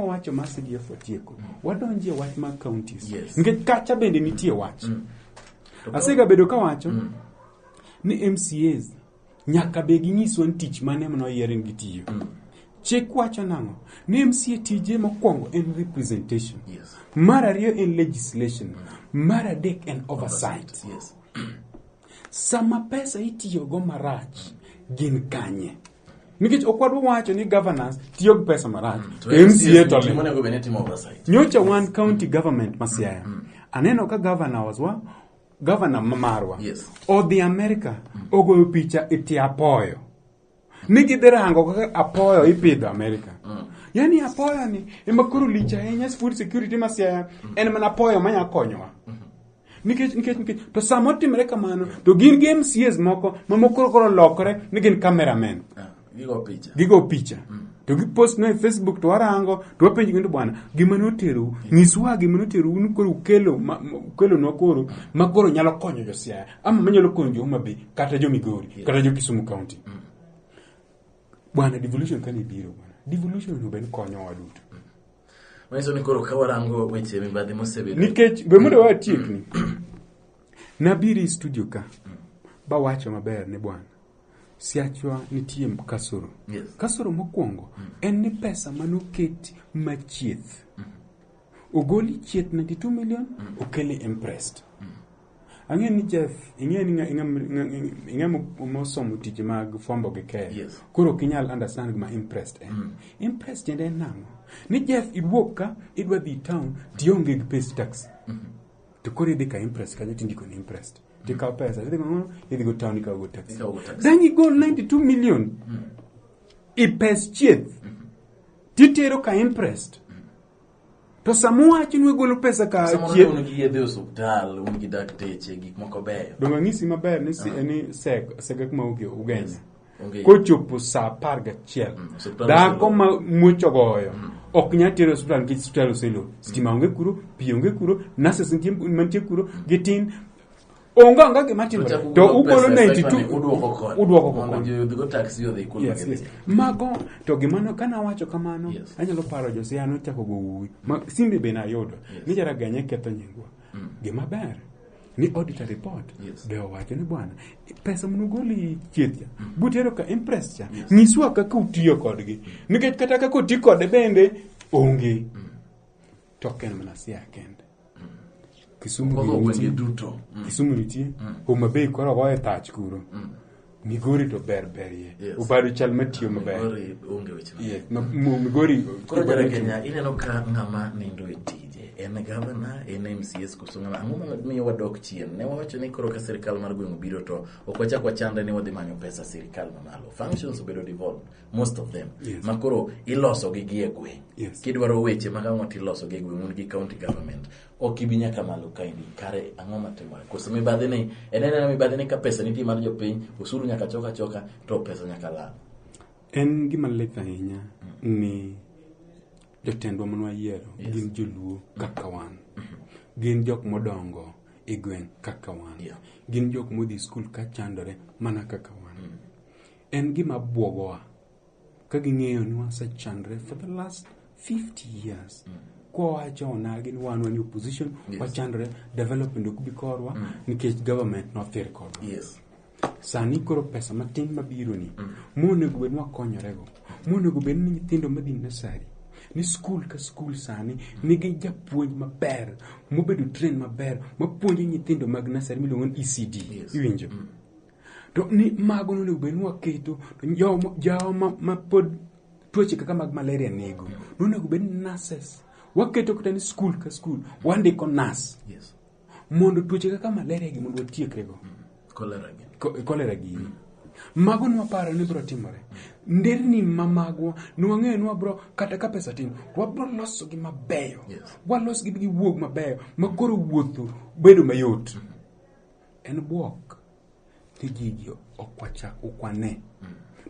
wacho ma CDF otieko mm. wadonjie wach mag counties yes. nikech kacha bende nitie wach mm. asega bedo ka wacho mm. ni MCAs nyaka be ginyiswa ni tich mane mano yieren gitiyo mm. chik wacho nang'o ni MCA tije mokwongo en representation yes. mar ariyo en legislation mm. mar adek en oversight, oversight. Yes. sama pesa itiyogo marach mm. gin kanye nikech ok wadwa wacho ni governance tiyo gi pesa marach mca to nyocha wan county government ma siaya mm. aneno ka governor waswa governor marwa yes. odhi america mm. ogoyo picha e tie apoyo ni gidhi rango kaka apoyo ipidho america mm. yani apoyo ni ema koro lich ahinya food security ma siaya mm. en mana apoyo manya konyowa mm -hmm. Nikech, nikech, nikech, to sama otimre kamano, to gin gi MCAs moko ma mokoro koro lokore ni gin cameramen. Ah, Gigo picha. Gigo picha. To gipost no e Facebook to warango to wapenjo kendo bwana gima noterou nyiswa gima noterou ni koro ukelo ma- ma- ukelo nwa koro ma koro nyalo konyo jo Siaya ama manyalo konyo jo Homa Bay kata jo Migori kata jo Kisumu County. Bwana devolution kane biro bwana devolution onego bed konyowa duto. manyiso ni koro ka warango weche mibadhi mosebedo nikech be mondo watiekni nabiri studio ka bawacho maber ni bwana siachwa nitie kasoro Yes. kasoro mokwongo en ni pesa manoket machieth ogoli chieth 92 million okele impressed Ang'e ni Jeff, ing'e ni ing'e mosomo tije mag fombo gi keyo. Yes. Koro ok inyal understand gima impressed en. Mm. Impressed tiende en nang'o? Ni Jeff iwuok ka idwa dhi town tionge gi pes taxi. Mm -hmm. To koro idhi ka impressed kajo tindiko ni impressed. Mm. Tikawo pesa, idhi go idhi go town ikawo go taxi. Then you go 92 million. Mm. I pes chieth. Mm -hmm. Titero ka impressed. Mm. To sama uwacho ni wegolo pesa ka Samoro ne chieth, un gi yedhe e osuptal, un gi dakteche, gik moko beyo. donge ang'isi maber ni si- ni sek- sega kuma uge- ugenya. Onge- Kochopo saa apar gachiel, Mm, osiptal dhako oselor. ma muoch ogoyo ok nyal tere osiptal nikech osiptal oselor. Stima onge kuro, pi onge kuro, nurses nitie- mantie kuro, gitin, onge anga gima timore Ochako to golo ugolo pesa e site 92 mane udwoko kod. udwoko kod. Mondo ji odhigo taxi odhi kuno Yes, gidhi. yes. mago to gimano kane awacho kamano Yes. anyalo paro josiaya nochako go wuwi Ma- simbe be nayudo Yes. ni jaraganya ketho nyingwa gima ber ni auditor report Yes. be owacho ni bwana pesa munugoli chieth cha butero ka impress cha nyiswa kaka utiyo kodgi nikech kata kaka oti kode bende onge to ok en mana siaya kende Kisumu Kodwa gi gwenge nitie. duto. Mm. Kisumu nitie. Mm. Homa Bay koro goye tach kuro. Mm. Migori to ber berie. Yes. Obado chal matiyo maber. Migori onge weche mang'eny. Yes. Ma- mo- Migori. Koro jara Kenya ineno ka ng'ama nindo e tije en gavana en MCS koso ng'ama ang'o mamiyo wadok chien ne wawacho ni koro ka sirikal mar gweng' obiro to ok wachak wachandre ni wadhi manyo pesa sirikal mamalo functions obedo devolved most of them yes. makoro iloso gi gie gweng yes. kidwaro weche mag ang'o tiloso gi gweng un gi county government ok ibi nyaka malo kaendi kare ang'o matimore koso mibadhi ni en enena mibadhi ni ka pesa nitie mar jopiny osuru nyaka choka choka to pesa nyaka lal en gima lith ahinya mm. ni jotendwa mane wayiero yes. gin joluo kaka wan mm-hmm. gin jok modongo e gweng kaka wan yeah. gin jok modhi skul ka chandore mana kaka wan En gima bwogowa ka ging'eyo ni wasechandre for the last 50 years mm. kwa wacha onagi ni wan wan opposition yes. wachandre development ok bi korwa mm. nikech government nothir kodwa yes. sani koro pesa matin mabironi mm. monego bed ni wakonyorego monego bed ni nyithindo madhi nasari ni skul ka skul sani nigi japuonj maber mobedo train maber mapuonjo nyithindo mag nasari miluongo ni ecd yes. iwinjo mm. To ni mago nonego bed ni waketo to jo- jawa ma, ma pod tuoche kaka mag malaria nego nonego bed ni nurses waketo kata ni skul ka skul wandiko nas Yes. mondo tuoche kaka malaria gi mondo watiekrego Cholera gi. Ko- kolera gini mago nwaparo ni biro timore nderni ma magwa nwang'eyo ni wabro kata ka pesa tin to wabro losogi mabeyo Yes. walosgi giwuog mabeyo ma koro wuotho bedo mayot En bwok ni jiji ok wachak ukwane.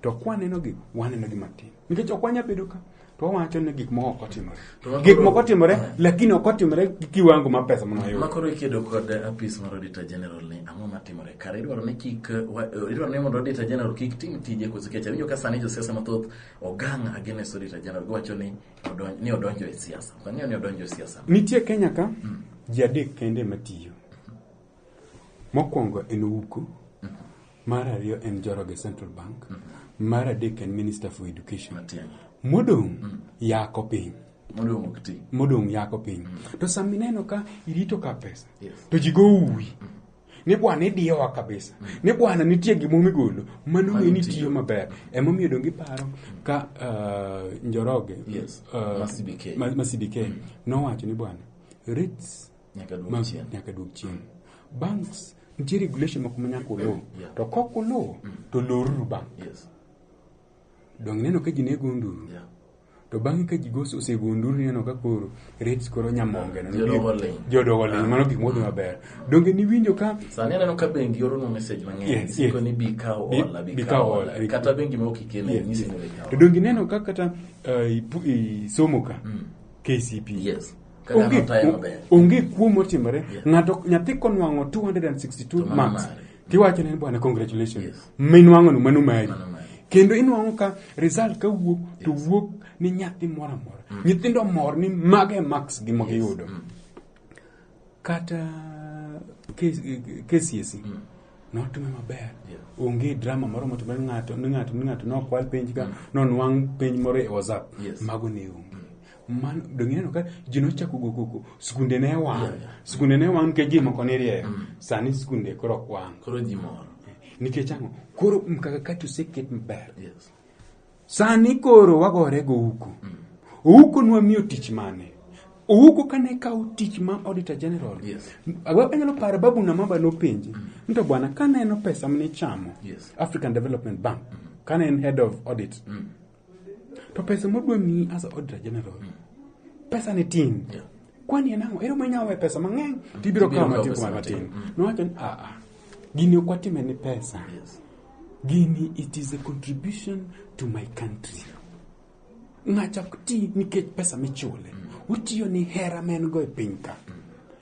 To kwanenogi, wanenogi matin. Nikech ok wanya bedo ka, to wawacho ni gik moko ok otimore. To wakoro- Gik moko otimore, lakini ok otimore gi kiwango ma pesa mano Ma koro ikedo kod apis mar Auditor General ni ang'o matimore kare idwaro ni kik wa- eh, idwaro ni mondo Auditor General kik tim tije koso kech awinjo ka sani josiasa mathoth ogang' against Auditor General giwacho ni odonj- ni odonjo e siasa ok ang'eyo ni odonjo e siasa Nitie Kenya ka, ji adek kende matiyo. Mokwongo en Uku, mar ariyo en Joroge Central Bank, mar adek en Minister for Education. Matin. Modong' yako piny. Modong' ok ti. modong' yako piny to sama ineno ka irito ka pesa Yes. to ji go uwi ni bwana idiyowa kabisa ni bwana nitie gimo migolo mano Mano ng'eni tiyo. tiyo maber emomiyo donge iparo ka uh, njoroge Yes. uh, Ma CBK. ma- ma CBK nowacho ni bwana rates Nyaka duog ma- chien. nyaka duog chien banks nitie regulation moko ma nyaka uluw Yeah. to kok uluwo to loruru bank Yes. dong neno ka ji nego nduru Yeah. to bang'e ka ji gos- osego nduru neno ka koro rates koro nyamonge no, Jodogo nibi- ling'. jodogo ling' mano gik modhi maber donge niwinjo ka sani aneno ka bengi oronu message mang'eny Yes, yes. siko ni bi kaw Bi- hola bi bi kaw kaw hola hola. kata bengi ma ok ikene Yes, nyisi yes. ni bi kaw to donge ineno ka kata eh, ipu- isomo ka kcp yes Ka dhano Onge- tayo maber. onge kuo motimore Yeah. ng'ato nyathi konwang'o 262 To mano marks mare. tiwacho ne bwana congratulations Yes. minwang'ono mano mari Mano mari. kendo inwang'o ka result ka wuok to wuok ni nyathi moro amora nyithindo mor ni mago e marks gi magiyudo kata K- KCSE notume maber Yeah. onge drama moro motimore ni ng'ato ni ng'ato ni ng'ato nokwal penj ka nonwang' penj moro e whatsapp Yes. mago ne onge man donge ineno ka ji nochako go koko skunde ne wang' Yeah, yeah. skunde ne wang' nikech ji moko nirieyo Mm. sani skunde koro ok wang' koro ji mor nikech ang'o koro mkakakati oseket maber yes sani koro wagore go uko uko nwa miyo tich mane uko kane kawo tich ma auditor general Yes. Agwa- anyalo paro babu na maba nopenje ni to bwana kaneno pesa mnichamo Yes. african development bank kane en head of audit to pesa modwa miyi as auditor general pesa ni tin Yeah. kwani en ang'o ero minyalo we pesa mang'eny tibiro Tibiro kawo kawo matin pesa kuom matin matin. Mm. nowacho ni aa gini ok watime ni pesa Yes. gini it is a contribution to my country ng'acha ok ti nikech pesa michule otiyo ni hera ma en go e piny ka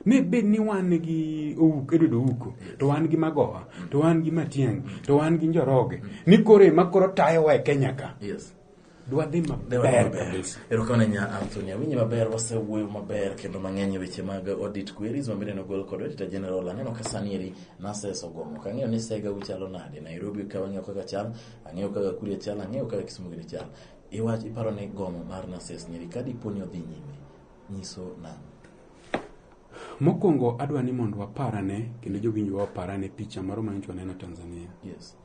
ne bed ni wan gi owuk edodo owuko to wan gi magowa to wan gi matiangi to wan gi njoroge ni koro ema koro tayowa e kenya ka yes dwadhi maber kabisa erokamano nya anthony awinye maber wasewuoyo maber kendo mang'eny e weche mag audit queries mabende nogol kod auditor general aneno ka sani eri naseso gomo kang'eyo ni sega uchalo nade nairobi ka wang'eyo kaka chal ang'eyo kaka kuria chal ang'eyo kaka kisumu gini chal iwach iparo ni gomo mar nases nyeri ka dipo ni odhi nyime nyiso nang'o? Mokwongo adwa ni mondo waparane kendo jowinjwa waparane picha moro ma nyocha waneno Tanzania. Yes.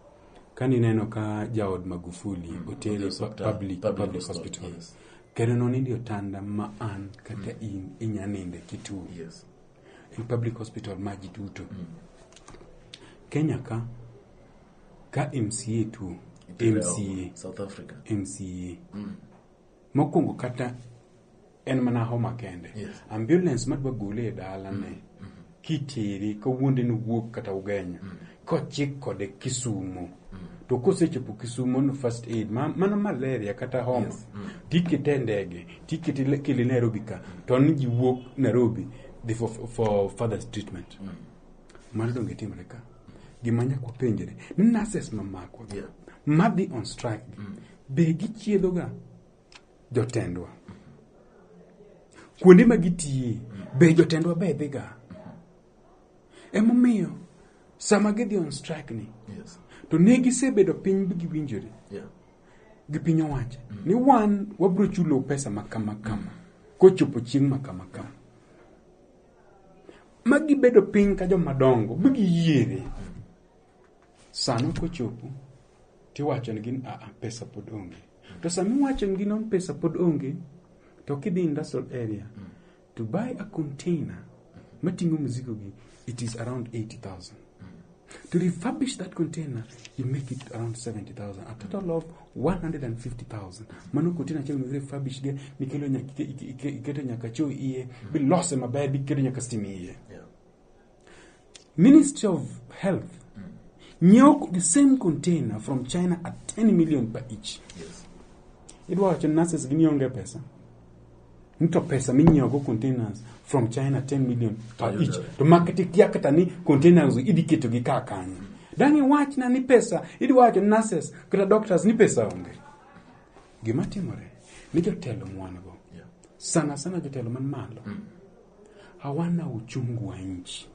Ka nineno ka jaod Magufuli mm, otere e hospital, public, public, public hospital. hospital. Yes. Kendo nonindi otanda ma an kata mm. in inya ninde kituo. Yes. In public hospital ma ji duto. Mm. Kenya ka ka MCA tuo MCA South Africa MCA mm. Mokwongo kata en mana homa kende. Yes. Ambulance madwa gole e dalane mm. kitere kawuonde ni wuok kata ugenyo mm. kochik kode Kisumo mm. to kosechopo Kisumo no first aid ma, mana malaria kata homa yes. mm. tikete e ndege tikete kele Nairobi ka to ni ji wuok Nairobi the for, for further treatment mm. mano donge itimore ka gima nyaka wapenjre ni nurses mamakwa yeah. madhi on strike mm. Be gichiedhoga jotendwa? Kuonde ma gitiye, be jotendwa be dhiga? Emomiyo sama gidhi on strike ni, Yes. to ne gisebedo piny bi giwinjore Yeah. gi piny owacho ni wan wabiro chulo pesa ma kama kama kochopo chieng' ma kama kama ma gibedo piny ka jomadongo bi giyiere Sano kochopo tiwacho nigi ni aa pesa pod onge. To sama iwacho nigi ni pesa pod onge to kidhi industrial area to buy a container mating'o mzigo gi it is around 80,000. To refurbish that container, you make it around 70,000, a total of 150,000. Mano container achiel mibiro refurbish ge, mikelo nyaka, iketo nyaka cho iye, bilose maber, biketo nyaka stima iye. Yeah. Ministry of Health nyiewo the same container from China at 10 million per each. Yes. Idwa wacho nurses gi nionge pesa. Nito pesa minyiewo go containers from China 10 million per Ayudo. each. To market ikia kata ni containers idhi keto gi kaa kanyo. Dangi wachna ni pesa, idwa wacho nurses kata doctors ni pesa onge. Gima timore ni jotelo mwan go. Yeah. Sana sana jotelo man malo. hawana uchungu wa nchi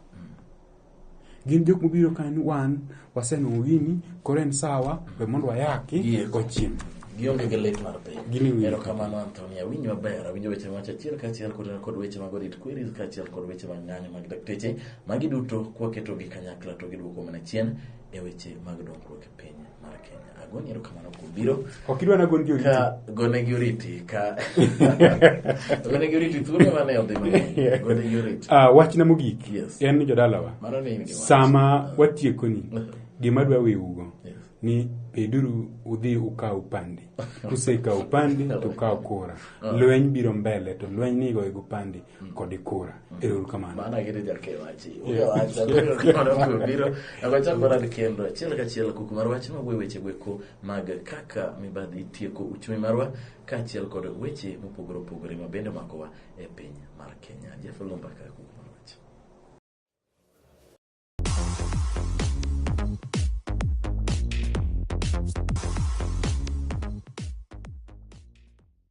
gin jok mobiro ka ni wan wasenwang'o gini koro en sawa we mondo wayaki Yes. wachiem gionge gi lit mar piny Gini winjo ero kamano antony awinjo maber awinjo weche mawacho achiel kaachiel kod kod weche mag orit queries kaachiel kod weche mag ng'anyo mag dakteche magi duto kwaketo gi kanyakla to giduoko mana chien e weche mag dongruok e piny mar Kenya. Agoni erokamano kuom biro. Ok idwa na goni oriti. Ka gone gi oriti ka gone gi oriti thuolo mane odhi mang'eny. Gone gi oriti. Ah, wachna mogik yes. en ni jodalawa. Mano ni in gi wach. Sama ah. watiekoni gima dwa wewugo yes. ni peduru udhi ukaw pande kusekaw pande to ukaw kura ah. lweny biro mbele to lweny nigo ego pande kode kora erouru kamano mano agire jakewachi ugewacha kamano kuom biro akwachako rad kendo achiel kachiel kuk marwa chima wuoyo weche gweko mag kaka mibadhi tieko uchumi marwa kaachiel kod weche mopogore opogore ma bende makowa e piny mar kenya jeff lumba ka kuk marwacho